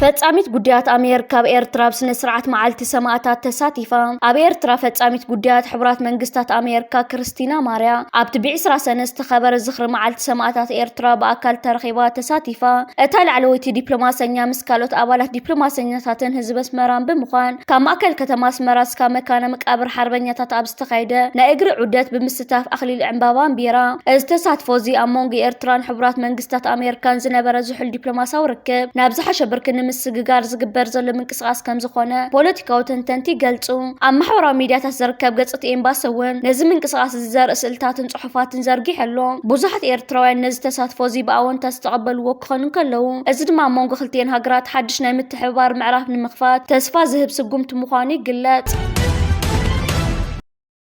ፈጻሚት ጉዳያት ኣሜሪካ ኣብ ኤርትራ ኣብ ስነ ስርዓት መዓልቲ ሰማእታት ተሳቲፋ ኣብ ኤርትራ ፈጻሚት ጉዳያት ሕቡራት መንግስታት ኣሜሪካ ክርስቲና ማርያ ኣብቲ ብዕስራ ሰነ ዝተኸበረ ዝኽሪ መዓልቲ ሰማእታት ኤርትራ ብኣካል ተረኺባ ተሳቲፋ እታ ላዕለወይቲ ዲፕሎማሰኛ ምስ ካልኦት ኣባላት ዲፕሎማሰኛታትን ህዝቢ ኣስመራን ብምዃን ካብ ማእከል ከተማ ኣስመራ እስካብ መካነ መቃብር ሓርበኛታት ኣብ ዝተኻየደ ናይ እግሪ ዑደት ብምስታፍ ኣኽሊል ዕምባባ ኣንቢራ። እዚ ተሳትፎ'ዚ ኣብ መንጎ ኤርትራን ሕቡራት መንግስታት ኣሜርካን ዝነበረ ዝሑል ዲፕሎማስያዊ ርክብ ናብ ዝሓሸ ብርኪ ንምስግጋር ዝግበር ዘሎ ምንቅስቓስ ከምዝኾነ ፖለቲካዊ ተንተንቲ ይገልጹ። ኣብ ማሕበራዊ ሚድያታት ዝርከብ ገጽ'ቲ ኤምባሲ'ውን ነዚ ምንቅስቓስ'ዚ ዘርኢ ስእልታትን ጽሑፋትን ዘርጊሑ ኣሎ። ብዙሓት ኤርትራውያን ነዚ ተሳትፎ'ዚ ብኣወንታ ዝተቐበልዎ ክኾኑ እንከለዉ፣ እዚ ድማ ኣብ መንጎ ክልቲኤን ሃገራት ሓድሽ ናይ ምትሕብባር ምዕራፍ ንምኽፋት ተስፋ ዝህብ ስጉምቲ ምዃኑ ይግለጽ።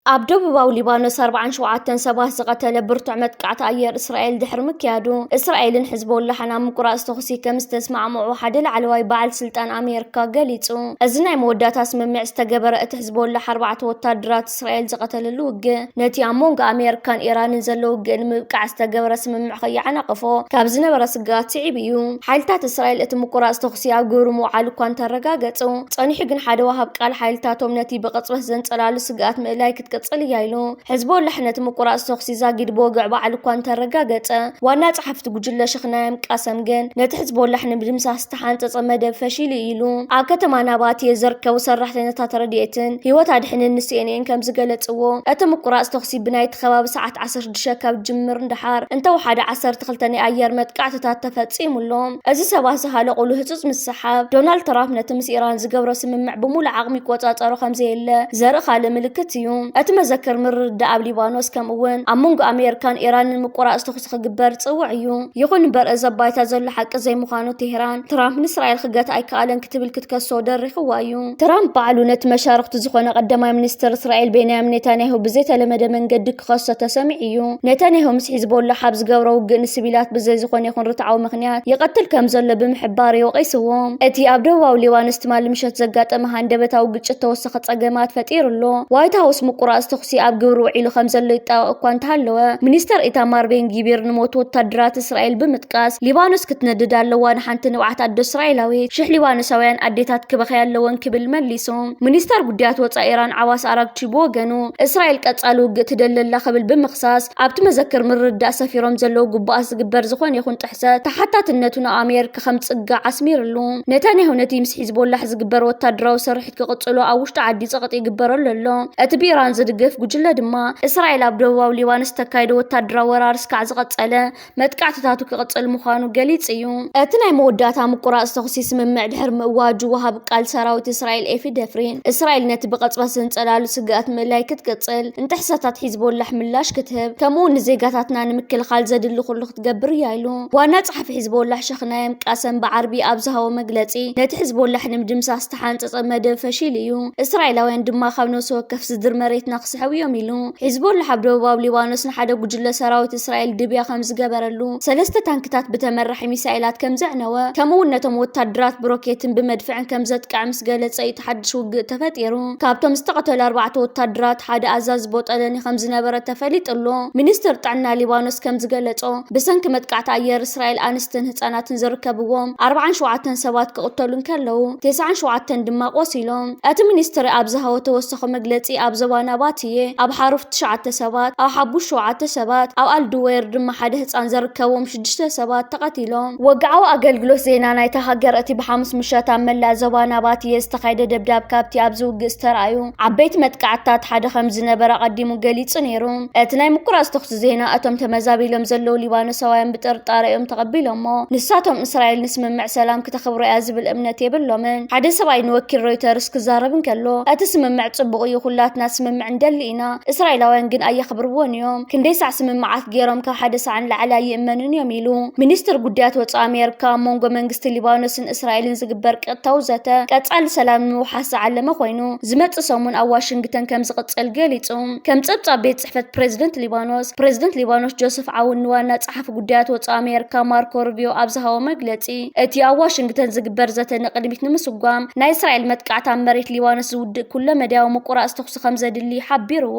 ኣብ ደቡባዊ ሊባኖስ 47 ሰባት ዝቐተለ ብርቱዕ መጥቃዕቲ ኣየር እስራኤል ድሕሪ ምክያዱ እስራኤልን ሕዝቦላሕን ኣብ ምቁራፅ ተኹሲ ከም ዝተስማዕምዑ ሓደ ላዕለዋይ በዓል ስልጣን ኣሜሪካ ገሊፁ። እዚ ናይ መወዳእታ ስምምዕ ዝተገበረ እቲ ሕዝቦላሕ ኣርባዕተ ወታደራት እስራኤል ዝቐተለሉ ውግእ፣ ነቲ ኣብ መንጎ ኣሜርካን ኢራንን ዘሎ ውግእ ንምብቃዕ ዝተገበረ ስምምዕ ከይዓናቕፎ ካብ ዝነበረ ስግኣት ስዒቡ እዩ። ሓይልታት እስራኤል እቲ ምቁራጽ ተኹሲ ኣብ ግብሪ ምውዓሉ እኳ እንተረጋገጹ፣ ጸኒሑ ግን ሓደ ወሃብ ቃል ሓይልታቶም ነቲ ብቕጽበት ዘንጸላሉ ስግኣት ምእላይ ክትቅጽል እያ ኢሉ። ሕዝቦላሕ ነቲ ምቁራጽ ተኹሲ ዛጊድ ብወግዒ ባዕሉ እኳ እንተረጋገጸ፣ ዋና ጸሓፊ'ቲ ጉጅለ ሸኽ ናያም ቃሰም ግን ነቲ ሕዝቦላሕ ንምድምሳስ ዝተሓንፀፀ መደብ ፈሺሉ እዩ ኢሉ። ኣብ ከተማ ናባትየ ዘርከቡ ሰራሕተኛታት ረድኤትን ህይወት ኣድሕንን ንሲኤንኤን ከምዝገለፅዎ፣ እቲ ምቁራፅ ተኹሲ ብናይቲ ከባቢ ሰዓት ዓሰርተ ሽዱሽተ ካብ ዝጅምር ንደሓር እንተወሓደ ዓሰርተ ክልተ ናይ ኣየር መጥቃዕትታት ተፈፂሙ ኣሎ። እዚ ሰባት ዝሃለቑሉ ህፁፅ ምስሕሓብ፣ ዶናልድ ትራምፕ ነቲ ምስ ኢራን ዝገብሮ ስምምዕ ብሙሉእ ዓቕሚ ይቆፃፀሮ ከምዘየለ ዘርኢ ካልእ ምልክት እዩ። እቲ መዘክር ምርድዳእ ኣብ ሊባኖስ ከምኡ'ውን ኣብ መንጎ ኣሜሪካን ኢራንን ምቁራፅ ተኹሲ ክግበር ጽውዕ እዩ። ይኹን እምበር እዚ ኣብ ባይታ ዘሎ ሓቂ ዘይምዃኑ ቴህራን፣ ትራምፕ ንእስራኤል ክገትኣ ኣይከኣለን ክትብል ክትከሶ ደሪኽዋ እዩ። ትራምፕ ባዕሉ ነቲ መሻርኽቱ ዝኾነ ቀዳማይ ሚኒስተር እስራኤል ቤንያሚን ኔታንያሁ ብዘይተለመደ መንገዲ ክኸሶ ተሰሚዑ እዩ። ኔታንያሁ ምስ ሒዝቦላሕ ኣብ ዝገብሮ ውግእ ንስቪላት ብዘይ ዝኾነ ይኹን ርትዓዊ ምኽንያት ይቐትል ከምዘሎ ብምሕባር እዩ ወቒስዎ። እቲ ኣብ ደቡባዊ ሊባኖስ ትማሊ ምሸት ዘጋጠመ ሃንደበታዊ ግጭት ተወሳኺ ተኸ ጸገማት ፈጢሩ ኣሎ። ዋይት ሃውስ ምቁራጽ ተኹሲ ኣብ ግብሪ ውዒሉ ከምዘሎ ይጣበቕ እኳ እንተሃለወ፣ ሚኒስተር ኢታማር ቤን ጊቪር ንሞት ወታደራት እስራኤል ብምጥቃስ ሊባኖስ ክትነድድ ኣለዋ፣ ንሓንቲ ንብዓት ኣዶ እስራኤላዊት ሽሕ ሊባኖሳውያን ኣዴታት ክበኽያ ኣለወን ክብል መሊሱ። ሚኒስተር ጉዳያት ወጻኢ ኢራን ዓባስ ኣራግቺ ብወገኑ፣ እስራኤል ቀጻሊ ውግእ ትደሊ ኣላ ክብል ብምኽሳስ፣ ኣብቲ መዘክር ምርድዳእ ሰፊሮም ዘለዉ ግቡኣት ዝግበር ዝኾነ ይኹን ጥሕሰት ተሓታትነቱ ናብ ኣሜርካ ከምጽጋዕ ኣስሚርሉ። ነታንያሁ ነቲ ምስ ሒዝቦላሕ ዝግበር ወታደራዊ ስርሒት፣ ክቕጽሉ ኣብ ውሽጢ ዓዲ ጸቕጢ ይግበረሉ ኣሎ። እቲ ብኢራን ዝድገፍ ጉጅለ ድማ፣ እስራኤል ኣብ ደቡባዊ ሊባኖስ እተካይዶ ወተሃደራዊ ወራር እስካዕ ዝቐጸለ፣ መጥቃዕትታቱ ክቕጽል ምዃኑ ገሊጹ እዩ። እቲ ናይ መወዳእታ ምቁራጽ ተኹሲ ስምምዕ ድሕሪ ምእዋጁ፣ ወሃቢ ቃል ሰራዊት እስራኤል ኤፊ ደፍሪን፣ እስራኤል ነቲ ብቐጽበት ዘንጸላሉ ስግኣት ምእላይ ክትቅጽል፣ ንጥሕሰታት ሒዝቦላሕ ምላሽ ክትህብ፣ ከምኡ'ውን ንዜጋታትና ንምክልኻል ዘድሊ ኩሉ ክትገብር እያ ኢሉ። ዋና ጸሓፊ ሒዝቦላህ ሸክናየም ቃሰም ብዓርቢ ኣብ ዝሃቦ መግለጺ፣ ነቲ ሕዝቦላሕ ንምድምሳስ ዝተሓንጸጸ መደብ ፈሺሉ እዩ፣ እስራኤላውያን ድማ ካብ ነብሲ ወከፍ ስድሪ መሬትና ክስሕቡ እዮም ኢሉ። ሒዝቦላሕ ኣብ ደቡባዊ ሊባኖስ ንሓደ ጉጅለ ሰራዊት እስራኤል ድብያ ከም ዝገበረሉ፣ ሰለስተ ታንክታት ብተመራሒ ሚሳኤላት ከም ዘዕነወ፣ ከምኡ'ውን ነቶም ወተሃደራት ብሮኬትን ብመድፍዕን ከም ዘጥቀዐ ምስ ገለጸ እዩ እቲ ሓድሽ ውግእ ተፈጢሩ። ካብቶም ዝተቐተሉ ኣርባዕተ ወታደራት ሓደ ኣዛዚ ቦጠለኒ ከምዝነበረ ተፈሊጡ'ሎ። ሚኒስትሪ ጥዕና ሊባኖስ ከምዝገለጾ፣ ብሰንኪ መጥቃዕቲ ኣየር እስራኤል ኣንስትን ህጻናትን ዝርከብዎም ኣርብዓን ሸውዓተን ሰባት ክቕተሉ እንከለዉ፣ ቴስዓን ሸውዓተን ድማ ቆሲሎም። እቲ ሚኒስትሪ ኣብ ዝሃቦ ተወሳኺ መግለጺ፣ ኣብ ዞባ ናባትየ፣ ኣብ ሓሩፍ ትሽዓተ ሰባት፣ ኣብ ሓቡሽ ሸውዓተ ሰባት፣ ኣብ ኣል-ዱዌር ድማ ሓደ ህጻን ዘርከቦም፣ ሽዱሽተ ሰባት ተቐቲሎም። ወግዓዊ ኣገልግሎት ዜና ናይታ ሃገር እቲ ብሓሙስ ምሸት ኣብ መላእ ዞባ ናባትየ ዝተኻየደ ደብዳብ ካብቲ ኣብዚ ውግእ ዝተራእዩ ዓበይቲ መጥቃዕትታት ሓደ ከምዝነበረ ኣቐዲሙ ገሊጹ ነይሩ። እቲ ናይ ምቁራጽ ተዅሲ ዜና እቶም ተመዛቢሎም ዘለዉ ሊባኖሳውያን ብጥርጣረ እዮም ተቐቢሎሞ፣ ንሳቶም እስራኤል ንስምምዕ ሰላም ክተኽብሮ እያ ዝብል እምነት የብሎምን። ሓደ ሰብኣይ ንወኪል ሮይተርስ ክዛረብ እንከሎ እቲ ስምምዕ ጽቡቕ እዩ፣ ኵላትና ስምምዕ ንደሊ ኢና፣ እስራኤላውያን ግን ኣየኽብርዎን እዮም፣ ክንደይ ሳዕ ስምምዓት ገይሮም ካብ ሓደ ሳዕ ንላዕሊ ኣይእመኑን እዮም ኢሉ። ሚኒስትር ጉዳያት ወፃኢ ኣሜሪካ ኣብ መንጎ መንግስቲ ሊባኖስን እስራኤልን ዝግበር ቀጥታዊ ዘተ ቀፃሊ ሰላም ንምውሓስ ዝዓለመ ኮይኑ ዝመፅእ ሰሙን ኣብ ዋሽንግተን ከምዝቕፅል ገሊፁ። ከም ፀብፃብ ቤት ፅሕፈት ፕሬዝደንት ሊባኖስ፣ ፕሬዝደንት ሊባኖስ ጆሰፍ ዓውን ንዋና ፀሓፊ ጉዳያት ወፃኢ ኣሜሪካ ማርኮ ሩቢዮ ኣብ ዝሃቦ መግለፂ እቲ ኣብ ዋሽንግተን ዝግበር ዘተ ንቕድሚት ንምስጓም ናይ እስራኤል መጥቃዕቲ ኣብ መሬት ሊባኖስ ዝውድእ ኩለ መዳያዊ ምቁራፅ ተኹሲ ከምዘድሊ ሓቢርዎ።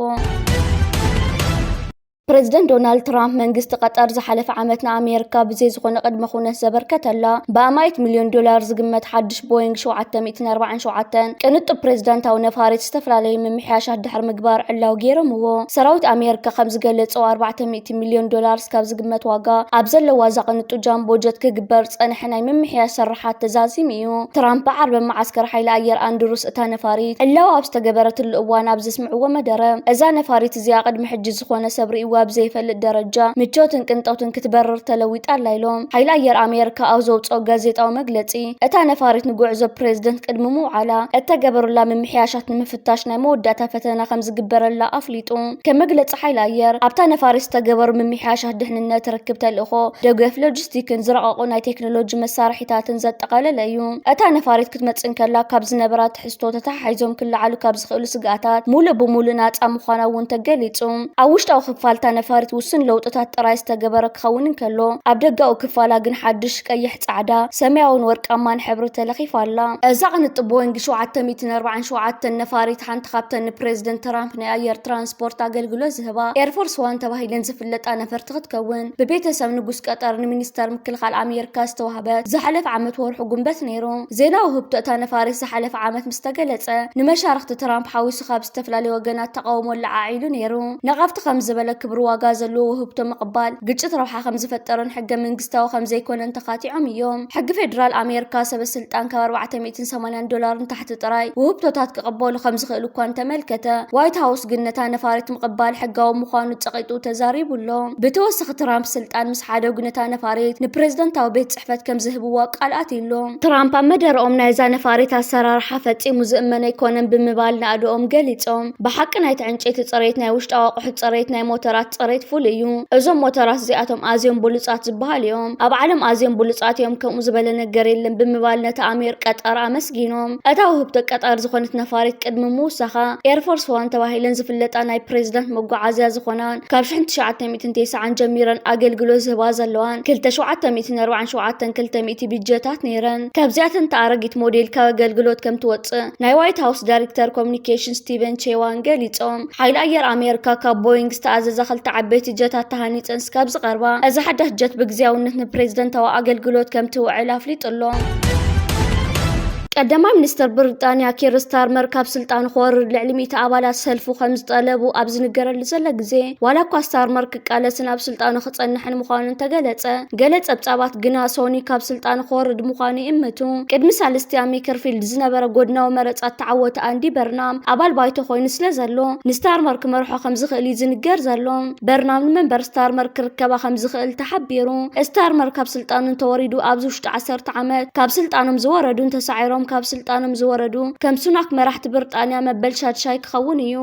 ፕረዚደንት ዶናልድ ትራምፕ መንግስቲ ቀጠር ዝሓለፈ ዓመት ንኣሜሪካ ብዘይ ዝኾነ ቅድመ ኩነት ዘበርከተላ ብኣማይት ሚልዮን ዶላር ዝግመት ሓድሽ ቦይንግ 747 ቅንጡብ ፕሬዚዳንታዊ ነፋሪት ዝተፈላለዩ ምምሕያሻት ድሕሪ ምግባር ዕላው ገይሮምዎ። ሰራዊት ኣሜሪካ ከም ዝገለጸው 400 ሚልዮን ዶላር ስካብ ዝግመት ዋጋ ኣብ ዘለዋ እዛ ቅንጡ ጃምቦ ጀት ክግበር ዝጸንሐ ናይ ምምሕያሽ ስርሓት ተዛዚሙ እዩ። ትራምፕ ብዓርቢ መዓስከር ሓይሊ ኣየር ኣንድሩስ እታ ነፋሪት ዕላው ኣብ ዝተገበረትሉ እዋን ኣብ ዘስምዕዎ መደረ እዛ ነፋሪት እዚኣ ቅድሚ ሕጂ ዝኾነ ሰብ ርእይዋ ብዘይፈልጥ ደረጃ ምቾትን ቅንጦትን ክትበርር ተለዊጣ ኣላ ኢሎም። ሓይሊ ኣየር ኣሜርካ ኣብ ዘውጽኦ ጋዜጣዊ መግለጺ፣ እታ ነፋሪት ንጉዕዞ ፕረዚደንት ቅድሚ ምውዓላ እተገበሩላ ምምሕያሻት ንምፍታሽ ናይ መወዳእታ ፈተና ከምዝግበረላ ኣፍሊጡ። ከም መግለጺ ሓይሊ ኣየር፣ ኣብታ ነፋሪት ዝተገበሩ ምምሕያሻት ድሕንነት፣ ርክብ ተልእኾ፣ ደገፍ ሎጂስቲክን ዝረቐቑ ናይ ቴክኖሎጂ መሳርሒታትን ዘጠቓለለ እዩ። እታ ነፋሪት ክትመጽእ እንከላ ካብ ዝነበራ ትሕዝቶ ተተሓሒዞም ክለዓሉ ካብ ዝኽእሉ ስግኣታት ሙሉእ ብሙሉእ ናፃ ምዃና እውን ተገሊፁ። ኣብ ውሽጣዊ ክፋል እታ ነፋሪት ውሱን ለውጥታት ጥራይ ዝተገበረ ክኸውን እንከሎ፣ ኣብ ደጋዊ ክፋላ ግን ሓዱሽ ቀይሕ፣ ፃዕዳ፣ ሰማያውን ወርቃማን ሕብሪ ተለኺፋ ኣላ። እዛ ቅንጥብ ቦይንግ ሸውዓተ ሚእትን ኣርባዓን ሸውዓተን ነፋሪት ሓንቲ ካብተን ንፕሬዝደንት ትራምፕ ናይ ኣየር ትራንስፖርት ኣገልግሎት ዝህባ ኤርፎርስ ዋን ተባሂለን ዝፍለጣ ነፈርቲ ክትከውን ብቤተሰብ ንጉስ ቀጠር ንሚኒስተር ምክልኻል ኣሜሪካ ዝተዋህበት ዝሓለፈ ዓመት ወርሑ ጉንበት ነይሩ። ዜና ውህብቶ እታ ነፋሪት ዝሓለፈ ዓመት ምስ ተገለጸ፣ ንመሻርኽቲ ትራምፕ ሓዊሱ ካብ ዝተፈላለዩ ወገናት ተቓውሞ ኣለዓዒሉ ነይሩ። ነቐፍቲ ከም ዝበለ ክብሪ ዋጋ ዘለዎ ውህብቶ ምቕባል፣ ግጭት ረብሓ ከም ዝፈጠሮን ሕገ መንግስታዊ ከም ዘይኰነን ተኻቲዖም እዮም። ሕጊ ፌደራል ኣሜርካ፣ ሰበ ስልጣን ካብ ኣርባዕተ ሚእትን ሰማንያን ዶላር ንታሕቲ ጥራይ ውህብቶታት ክቕበሉ ከም ዝኽእሉ እኳ እንተ ኣመልከተ፣ ዋይት ሃውስ ግን ነታ ነፋሪት ምቕባል ሕጋዊ ምዃኑ ጸቒጡ ተዛሪቡ ኣሎ። ብተወሳኺ ትራምፕ ስልጣን ምስ ሓደጉ ነታ ነፋሪት ንፕረዚደንታዊ ቤት ጽሕፈት ከም ዝህብዎ ቃል ኣትዩ'ሎ። ትራምፕ ኣብ መደረኦም ናይዛ ነፋሪት ኣሰራርሓ ፈጺሙ ዝእመን ኣይኮነን ብምባል ናእድኦም ገሊጾም። ብሓቂ ናይቲ ዕንጨይቲ ጽሬት፣ ናይ ውሽጣዊ ኣቑሑት ጽሬት፣ ናይ ሞተራት ጽሬት ፍሉይ እዩ። እዞም ሞተራት እዚኣቶም ኣዝዮም ብሉጻት ዝበሃሉ እዮም። ኣብ ዓለም ኣዝዮም ብሉጻት እዮም፣ ከምኡ ዝበለ ነገር የለን ብምባል ነታ ኣሚር ቀጠር ኣመስጊኖም። እታ ውህብቶ ቀጠር ዝኾነት ነፋሪት ቅድሚ ምውሳኻ ኤርፎርስ ዋን ተባሂለን ዝፍለጣ ናይ ፕሬዝዳንት መጓዓዝያ ዝኾና ካብ ሽሕን ትሽዓተ ሚእትን ትንቴሳዓን ጀሚረን ኣገልግሎት ዝህባ ዘለዋን ክልተ ሸውዓተ ሚእትን ኣርባዓን ሸውዓተን ክልተ ሚእቲ ብጀታት ነይረን። ካብዚኣተን እታ ኣረጊት ሞዴል ካብ ኣገልግሎት ከም ትወጽእ ናይ ዋይት ሃውስ ዳይሬክተር ኮሙኒኬሽን ስቲቨን ቼዋን ገሊጾም። ሓይሊ ኣየር ኣሜሪካ ካብ ቦይንግ ዝተኣዘዛ ክልተ ዓበይቲ ጀታት ተሃኒጸን ስካብ ዝቐርባ እዛ ሓዳሽ ጀት ብግዝያውነት ንፕሬዝደንታዊ ኣገልግሎት ከም ትውዕል ኣፍሊጡ'ሎ። ቀዳማይ ሚኒስተር ብሪጣንያ ኪር ስታርመር ካብ ስልጣኑ ክወርድ ልዕሊ ሚእቲ ኣባላት ሰልፉ ከም ዝጠለቡ ኣብ ዝንገረሉ ዘሎ ግዜ ዋላ እኳ ስታርመር ክቃለስን ኣብ ስልጣኑ ክጸንሕን ምዃኑ እንተገለጸ ገለ ጸብጻባት ግና ሶኒ ካብ ስልጣኑ ክወርድ ምዃኑ ይእምቱ። ቅድሚ ሳልስቲ ኣብ ሜከርፊልድ ዝነበረ ጎድናዊ መረጻ እተዓወተ ኣንዲ በርናም ኣባል ባይቶ ኮይኑ ስለ ዘሎ ንስታርመር ክመርሖ ከም ዝኽእል እዩ ዝንገር ዘሎ። በርናም ንመንበር ስታርመር ክርከባ ከም ዝኽእል ተሓቢሩ። ስታርመር ካብ ስልጣኑ እንተወሪዱ ኣብዚ ውሽጢ ዓሰርተ ዓመት ካብ ስልጣኖም ዝወረዱን ተሳዒሮም ካብ ስልጣኖም ዝወረዱ ከም ሱናክ መራሕቲ ብርጣንያ መበል ሻድሻይ ክኸውን እዩ።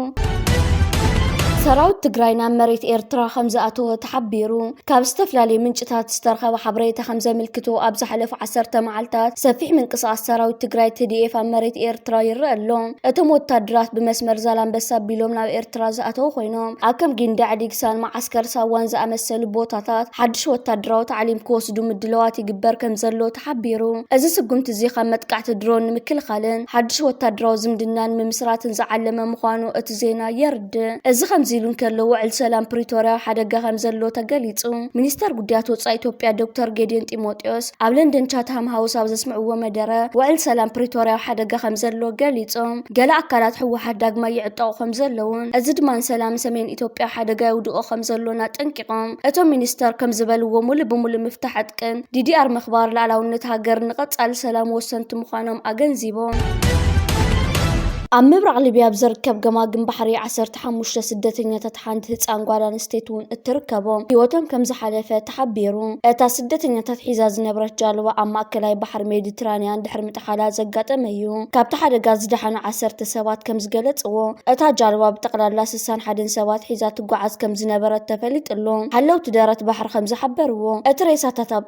ሰራዊት ትግራይ ናብ መሬት ኤርትራ ከም ዝኣተወ ተሓቢሩ። ካብ ዝተፈላለዩ ምንጭታት ዝተረኸበ ሓበሬታ ከም ዘመልክቶ ኣብ ዝሓለፉ ዓሰርተ መዓልታት ሰፊሕ ምንቅስቓስ ሰራዊት ትግራይ ትዲኤፍ ኣብ መሬት ኤርትራ ይረአ ኣሎ። እቶም ወታደራት ብመስመር ዛላንበሳ ኣቢሎም ናብ ኤርትራ ኤርትራ ዝኣተዉ ኮይኖም፣ ኣብ ከም ጊንዳዕ፣ ዲግሳን መዓስከር ሳዋን ዝኣመሰሉ ቦታታት ሓድሽ ወታደራዊ ታዕሊም ክወስዱ ምድላዋት ይግበር ከምዘሎ ተሓቢሩ። እዚ ስጉምቲ'ዚ ካብ መጥቃዕቲ ድሮን ንምክልኻልን ሓድሽ ወታደራዊ ዝምድና ንምምስራትን ዝዓለመ ምዃኑ እቲ ዜና የርድእ። እዚ ከምዚ ኢሉ እንከሎ፣ ውዕል ሰላም ፕሪቶርያ ኣብ ሓደጋ ከምዘሎ ተገሊጹ። ሚኒስተር ጉዳያት ወጻኢ ኢትዮጵያ ዶክተር ጌዲዮን ጢሞቴዎስ፣ ኣብ ለንደን ቻትሃም ሃውስ ኣብ ዘስምዕዎ መደረ ውዕል ሰላም ፕሪቶርያ ኣብ ሓደጋ ከም ዘሎ ገሊፆም ገለ ኣካላት ህወሓት ዳግማይ ይዕጠቑ ከም ዘለውን እዚ ድማ ንሰላም ሰሜን ኢትዮጵያ ኣብ ሓደጋ የውድቖ ከም ዘሎን ኣጠንቂቖም እቶም ሚኒስተር ከም ዝበልዎ ሙሉእ ብሙሉእ ምፍታሕ ዕጥቅን ዲዲኣር ምኽባር ላዕላውነት ሃገርን ንቐፃሊ ሰላም ወሰንቲ ምዃኖም ኣገንዚቦም። ኣብ ምብራቕ ሊብያ ኣብ ዝርከብ ገማግም ባሕሪ ዓሰርተ ሓሙሽተ ስደተኛታት ሓንቲ ህጻን ጓል ኣንስተይቲ እውን እትርከቦም ህይወቶም ከምዝሓለፈ ተሓቢሩ። እታ ስደተኛታት ሒዛ ዝነበረት ጃልባ ኣብ ማእከላይ ባሕሪ ሜዲትራንያን ድሕሪ ምጥሓላ ዘጋጠመ እዩ። ካብቲ ሓደጋ ዝደሓኑ ዓሰርተ ሰባት ከምዝገለጽዎ፣ እታ ጃልባ ብጠቕላላ ስሳን ሓደን ሰባት ሒዛ ትጓዓዝ ከምዝነበረት ተፈሊጡ'ሎ። ሓለውቲ ደረት ባሕሪ ከምዝሓበርዎ፣ እቲ ሬሳታት ኣብ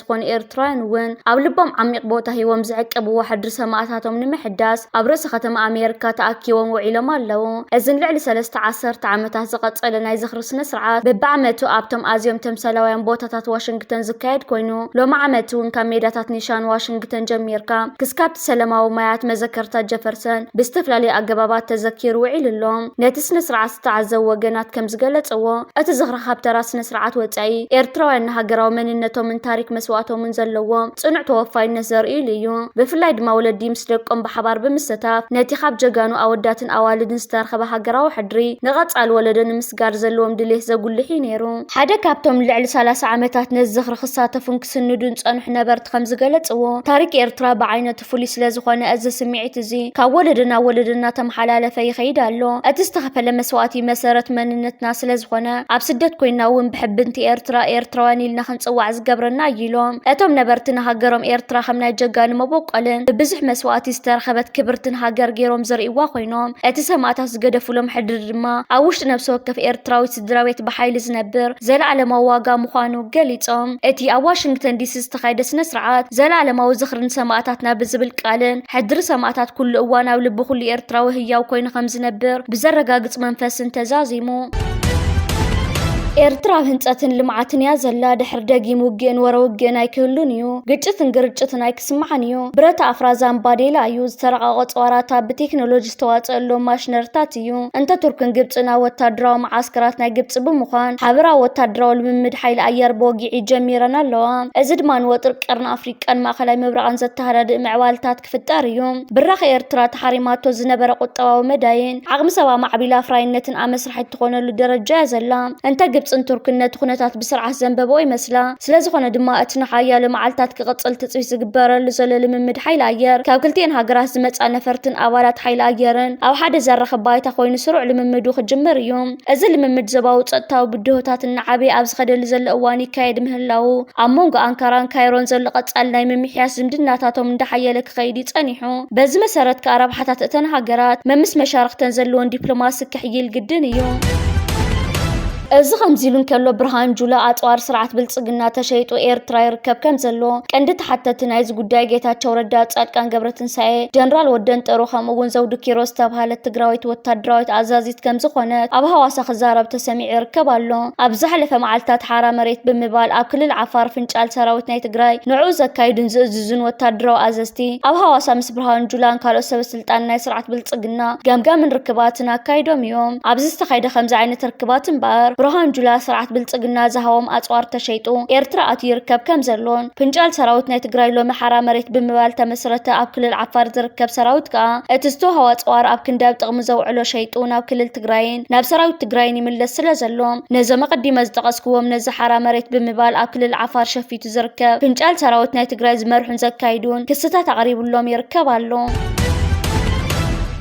ዝኾኑ ኤርትራውያን እውን ኣብ ልቦም ዓሚቕ ቦታ ሂቦም ዝዕቅብዎ ሕድሪ ሰማእታቶም ንምሕዳስ ኣብ ርእሰ ከተማ ኣሜርካ ተኣኪቦም ውዒሎም ኣለዉ። እዚ ንልዕሊ ሰለስተ ዓሰርተ ዓመታት ዝቐጸለ ናይ ዝኽሪ ስነ-ስርዓት በብዓመቱ ኣብቶም ኣዝዮም ተምሳላውያን ቦታታት ዋሽንግተን ዝካየድ ኮይኑ ሎሚ ዓመት'ውን ካብ ሜዳታት ኒሻን ዋሽንግተን ጀሚርካ ክስካብ ሰለማዊ ማያት መዘከርታ ጀፈርሰን ብዝተፈላለየ ኣገባባት ተዘኪሩ ውዒሉ ኣሎ። ነቲ ስነ-ስርዓት ዝተዓዘቡ ወገናት ከም ዝገለጽዎ፣ እቲ ዝኽሪ ካብ ተራ ስነ-ስርዓት ወጻኢ፣ ኤርትራውያን ንሃገራዊ መንነቶምን ታሪክ መስዋእቶምን ዘለዎም ጽኑዕ ተወፋይነት ዘርእይሉ እዩ። ብፍላይ ድማ ወለዲ ምስ ደቆም ብሓባር ብምሰታፍ ነቲ ካብ ጀጋኑ ኣወዳትን ኣዋልድን ዝተረኽበ ሃገራዊ ሕድሪ ንቐጻሊ ወለዶ ንምስጋር ዘለዎም ድሌት ዘጉልሕ እዩ ነይሩ። ሓደ ካብቶም ንልዕሊ ሰላሳ ዓመታት ነዚ ዝኽሪ ክሳተፉን ክስንዱን ዝጸንሑ ነበርቲ ከም ዝገለጽዎ፣ ታሪኽ ኤርትራ ብዓይነቱ ፍሉይ ስለ ዝኾነ፣ እዚ ስምዒት እዚ ካብ ወለዶ ናብ ወለዶ እናተመሓላለፈ ይኸይድ ኣሎ። እቲ ዝተኸፈለ መስዋእቲ መሰረት መንነትና ስለ ዝኾነ፣ ኣብ ስደት ኮይንና እውን ብሕብንቲ ኤርትራ፣ ኤርትራውያን ኢልና ክንጽዋዕ ዝገብረና እዩ ኢሎም። እቶም ነበርቲ ንሃገሮም ኤርትራ ከም ናይ ጀጋኑ መበቆልን ብብዙሕ መስዋእቲ ዝተረኸበት ክብርትን ሃገር ገይሮም ዝርእይዋ ኮይኖም፣ እቲ ሰማእታት ዝገደፉሎም ሕድሪ ድማ ኣብ ውሽጢ ነብሲ ወከፍ ኤርትራዊ ስድራቤት ብሓይሊ ዝነብር ዘለኣለማዊ ዋጋ ምዃኑ ገሊጾም። እቲ ኣብ ዋሽንግተን ዲሲ ዝተኻየደ ስነ-ስርዓት፣ ዘልኣለማዊ ዝኽሪ ንሰማእታትና ብዝብል ቃልን፣ ሕድሪ ሰማእታት ኩሉ እዋን ኣብ ልቢ ኩሉ ኤርትራዊ ህያው ኮይኑ ከም ዝነብር ብዘረጋግጽ መንፈስን ተዛዚሙ። ኤርትራ ኣብ ህንጸትን ልምዓትን እያ ዘላ። ድሕሪ ደጊም ውግእን ወረ ውግእን ኣይክህሉን እዩ። ግጭትን ግርጭትን ኣይክስማዕን እዩ። ብረታ ኣፍራዛን ባዴላ እዩ። ዝተራቐቐ ጸዋራታ ብቴክኖሎጂ ዝተዋፀኣሎም ማሽነሪታት እዩ። እንተ ቱርክን ግብፅን ኣብ ወታደራዊ መዓስከራት ናይ ግብፂ ብምዃን ሓበራዊ ወታደራዊ ልምምድ ሓይሊ ኣየር ብወግዒ ጀሚረን ኣለዋ። እዚ ድማ ንወጥሪ ቀርኒ ኣፍሪቃን ማእኸላይ ምብራቕን ዘተሃዳድእ ምዕባልታት ክፍጠር እዩ። ብራኸ ኤርትራ ተሓሪማቶ ዝነበረ ቁጠባዊ መዳይን ዓቕሚ ሰብ ኣማዕቢላ ኣፍራይነትን ኣመስሪታ። ትራሓይ እትኾነሉ ደረጃ እያ ዘላ። እንተ ግብጽን ቱርክን ነቲ ኩነታት ብስርዓት ዘንበበኦ ይመስላ። ስለዝኾነ ድማ እቲ ንሓያሎ መዓልታት ክቕጽል ትጽቢት ዝግበረሉ ዘሎ ልምምድ ሓይሊ ኣየር ካብ ክልቲኤን ሃገራት ዝመጽኣ ነፈርትን ኣባላት ሓይሊ ኣየርን ኣብ ሓደ ዘራኽብ ባይታ ኮይኑ ስሩዕ ልምምዱ ክጅምር እዩ። እዚ ልምምድ ዞባዊ ጸጥታዊ ብድሆታት እናዓበየ ኣብ ዝኸደሉ ዘሎ እዋን ይካየድ ምህላዉ ኣብ መንጎ ኣንካራን ካይሮን ዘሎ ቀጻሊ ናይ ምምሕያሽ ዝምድናታቶም እንዳሓየለ ክኸይድ እዩ ጸኒሑ። በዚ መሰረት ከኣ ረብሓታት እተን ሃገራት መምስ መሻርኽተን ዘለወን ዲፕሎማሲ ክሕይል ግድን እዩ። እዚ ከምዚ ኢሉ እንከሎ ብርሃን ጁላ ኣጽዋር ስርዓት ብልጽግና ተሸይጡ ኤርትራ ይርከብ ከም ዘሎ ቀንዲ ተሓተቲ ናይዚ ጉዳይ ጌታቸው ረዳ፣ ጻድቃን ገብረትንሳኤ፣ ጀነራል ወደንጠሩ ከምኡ እውን ዘውዱ ኪሮስ ዝተብሃለት ትግራዊት ወታደራዊት ኣዛዚት ከም ዝኾነት ኣብ ሃዋሳ ክዛረብ ተሰሚዑ ይርከብ ኣሎ። ኣብ ዝሓለፈ መዓልትታት ሓራ መሬት ብምባል ኣብ ክልል ዓፋር ፍንጫል ሰራዊት ናይ ትግራይ ንዕኡ ዘካይዱን ዝእዝዙን እዙን ወታደራዊ ኣዘዝቲ ኣብ ሃዋሳ ምስ ብርሃኑ ጁላን ካልኦት ሰበስልጣን ናይ ስርዓት ብልፅግና ገምጋምን ርክባትን ኣካይዶም እዮም። ኣብዚ ዝተኻይደ ከምዚ ዓይነት ርክባት እምበኣር ብርሃኑ ጁላ ስርዓት ብልፅግና ዝሃቦም ኣፅዋር ተሸይጡ ኤርትራ ኣትዩ ይርከብ ከምዘሎን ፍንጫል ሰራዊት ናይ ትግራይ ሎሚ ሓራ መሬት ብምባል ተመስረተ ኣብ ክልል ዓፋር ዝርከብ ሰራዊት ከኣ እቲ ዝተውሃቦ ኣፅዋር ኣብ ክንዲ ኣብ ጥቕሚ ዘውዕሎ ሸይጡ ናብ ክልል ትግራይን ናብ ሰራዊት ትግራይን ይምለስ ስለዘሎ ነዞም ኣቐዲመ ዝጠቐስክዎም ነዚ ሓራ መሬት ብምባል ኣብ ክልል ዓፋር ሸፊቱ ዝርከብ ፍንጫል ሰራዊት ናይ ትግራይ ዝመርሑን ዘካይዱን ክስታት ኣቕሪብሎም ይርከብ ኣሎ።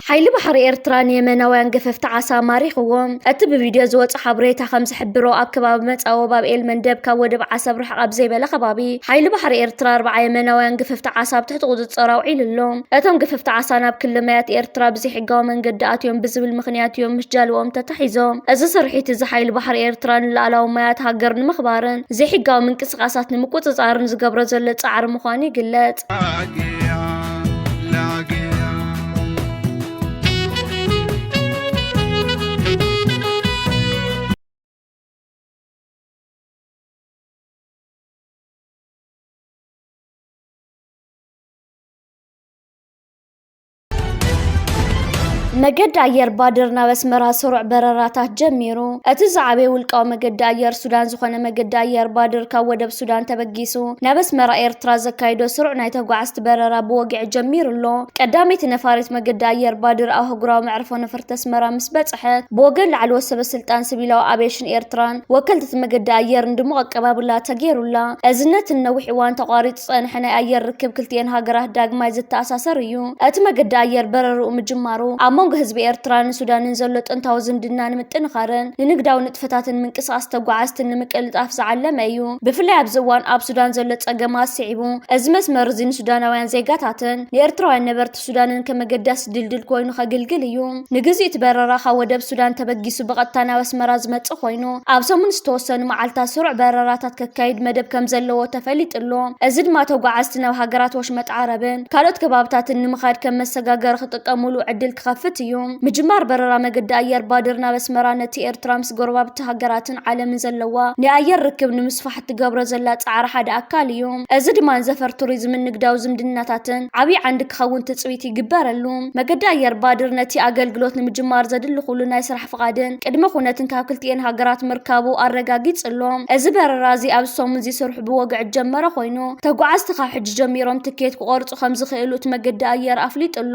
ሓይሊ ባሕሪ ኤርትራ ንየመናውያን ገፈፍቲ ዓሳ ማሪኽዎም። እቲ ብቪድዮ ዝወጸ ሓበሬታ ከም ዝሕብሮ ኣብ ከባቢ መጻወብ ኣብ ኤል መንደብ ካብ ወደብ ዓሰብ ርሕቕ ኣብ ዘይበለ ከባቢ ሓይሊ ባሕሪ ኤርትራ ኣርብዓ የመናውያን ገፈፍቲ ዓሳ ኣብ ትሕቲ ቁጽጽር ኣውዒሉ ኣሎ። እቶም ገፈፍቲ ዓሳ ናብ ክሊ ማያት ኤርትራ ብዘይሕጋዊ መንገዲ ኣትዮም ብዝብል ምኽንያት እዮም ምስ ጃልባኦም ተታ ኣተሓሒዞ፣ እዚ ስርሒት እዚ ሓይሊ ባሕሪ ኤርትራ ንልኣላዊ ማያት ሃገር ንምኽባርን ዘይሕጋዊ ምንቅስቓሳት ንምቁጽጻርን ዝገብሮ ዘሎ ጻዕሪ ምዃኑ ይግለጽ። መገዲ ኣየር ባድር ናብ ኣስመራ ስሩዕ በረራታት ጀሚሩ። እቲ ዝዓበየ ውልቃዊ መገዲ ኣየር ሱዳን ዝኾነ መገዲ ኣየር ባድር ካብ ወደብ ሱዳን ተበጊሱ ናብ ኣስመራ ኤርትራ ዘካይዶ ስሩዕ ናይ ተጓዓዝቲ በረራ ብወግዒ ጀሚሩ ኣሎ። ቀዳመይቲ ነፋሪት መገዲ ኣየር ባድር ኣብ ኣህጉራዊ መዕርፎ ነፈርቲ ኣስመራ ምስ በጽሐት ብወገን ላዕለዎት ሰበስልጣን ሲቪላዊ ኣቪዬሽን ኤርትራን ወከልቲ እቲ መገዲ ኣየርን ድሙቕ ኣቀባብላ ተገይሩላ። እዚ ነቲ ንነዊሕ እዋን ተቋሪጹ ዝጸንሐ ናይ ኣየር ርክብ ክልቲኤን ሃገራት ዳግማይ ዘተኣሳሰር እዩ። እቲ መገዲ ኣየር በረርኡ ምጅማሩ፣ ኣብ መንጎ ህዝቢ ኤርትራን ሱዳንን ዘሎ ጥንታዊ ዝምድና ንምጥንኻርን ንንግዳዊ ንጥፈታትን ምንቅስቓስ ተጓዓዝትን ንምቅልጣፍ ዝዓለመ እዩ። ብፍላይ ኣብዚ እዋን ኣብ ሱዳን ዘሎ ጸገማት ስዒቡ፣ እዚ መስመር'ዚ ንሱዳናውያን ዜጋታትን ንኤርትራውያን ነበርቲ ሱዳንን ከም ኣገዳሲ ድልድል ኮይኑ ከግልግል እዩ። ንግዜኡ እቲ በረራ ካብ ወደብ ሱዳን ተበጊሱ ብቐጥታ ናብ ኣስመራ ዝመጽእ ኮይኑ፣ ኣብ ሰሙን ዝተወሰኑ መዓልታት ስሩዕ በረራታት ከካይድ መደብ ከም ዘለዎ ተፈሊጡ ኣሎ። እዚ ድማ ተጓዓዝቲ ናብ ሃገራት ወሽመጥ ዓረብን ካልኦት ከባብታትን ንምኻድ ከም መሰጋገሪ ክጥቀሙሉ ዕድል ክኸፍት እዩ። ምጅማር በረራ መገዲ ኣየር ባድር ናብ ኣስመራ ነቲ ኤርትራ ምስ ጎረባብቲ ሃገራትን ዓለምን ዘለዋ ናይ ኣየር ርክብ ንምስፋሕ፣ እትገብሮ ዘላ ፃዕሪ ሓደ ኣካል እዩ። እዚ ድማ ንዘፈር ቱሪዝምን ንግዳዊ ዝምድናታትን ዓብዪ ዓንዲ ክኸውን ትፅቢት ይግበረሉ። መገዲ ኣየር ባድር ነቲ ኣገልግሎት ንምጅማር ዘድሊ ኩሉ ናይ ስራሕ ፍቓድን ቅድመ ኩነትን ካብ ክልቲኤን ሃገራት ምርካቡ ኣረጋጊፅሎ። እዚ በረራ እዚ ኣብዚ ሰሙን እዚ ስርሑ ብወግዒ ዝጀመረ ኮይኑ ተጓዓዝቲ ካብ ሕጂ ጀሚሮም ትኬት ክቖርፁ ከምዝኽእሉ እቲ መገዲ ኣየር ኣፍሊጡ'ሎ።